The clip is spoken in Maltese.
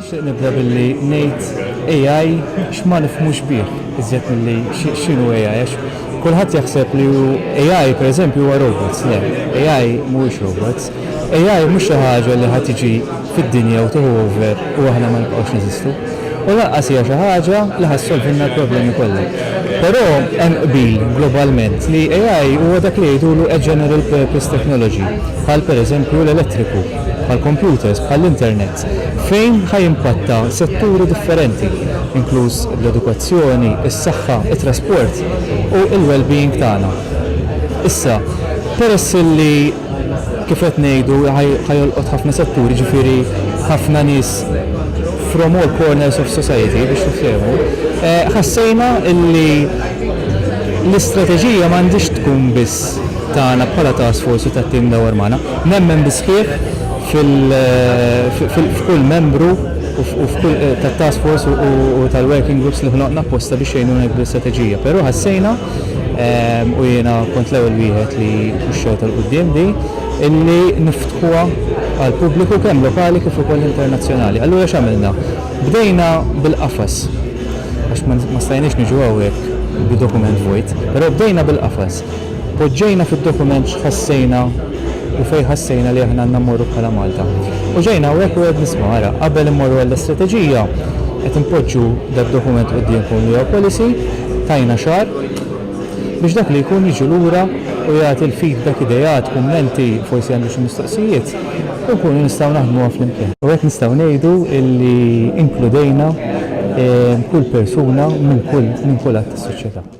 Nixtieq nibda billi ngħid AI x'ma nifhmux bih iżjed milli x'inhu AI għax kulħadd jaħseb li hu AI pereżempju huwa robots. Le, AI mhuwiex robots. AI mhux xi ħaġa li ħa tiġi fid-dinja u tieħu over u aħna ma nibqgħux neżistu. U lanqas hija xi ħaġa li ħa ssolvilna l-problemi kollha. Però hemm qbil globalment li AI huwa dak li jgħidulu a general purpose technology, bħal pereżempju l-elettriku. bħall-kompjuters, bħall-internet, fejn ħa jimpatta setturi differenti, inkluż l-edukazzjoni, is-saħħa, it-trasport u l-wellbeing tagħna. Issa, peress li, kif qed ngħidu, ħa jolqot ħafna setturi, jiġifieri ħafna nies from all corners of society, biex tiftehmu, ħassejna li l-istrateġija m'għandhiex tkun biss tagħna bħala task force u tat-tim dawar magħna, Nemmen bis-sħiħ f'kull membru tat-task force u tal-working groups li ħloqna apposta biex jgħinuna nikbu l-istrateġija. Però ħassejna, u jiena kont l-ewwel wieħed li puxxewtha 'l quddiem di, illi niftħuha għall-pubbliku kemm lokali kif ukoll internazzjonali. Allura x'għamilna? Bdejna bil-qafas, għax ma stajniex niġu hawnhekk bi dokument vojt, però bdejna bil-qafas. Poġġejna fid-dokument x'ħassejna u fejn ħassejna li aħna għandna mmorru bħala Malta. U ġejna hawnhekk u qed nisma', ara, qabel immorru għall-istrateġija, qed inpoġġu dad-dokument quddiemkom li huwa policy, tajna xahar biex dak li jkun jiġi lura u jagħti l-feedback, ideat, kummenti, forsi għandu xi mistoqsijiet, u nkunu nistgħu naħdmuha flimkien. U hekk nistgħu ngħidu li inkludejna kull persuna minn kull att tas-soċjetà.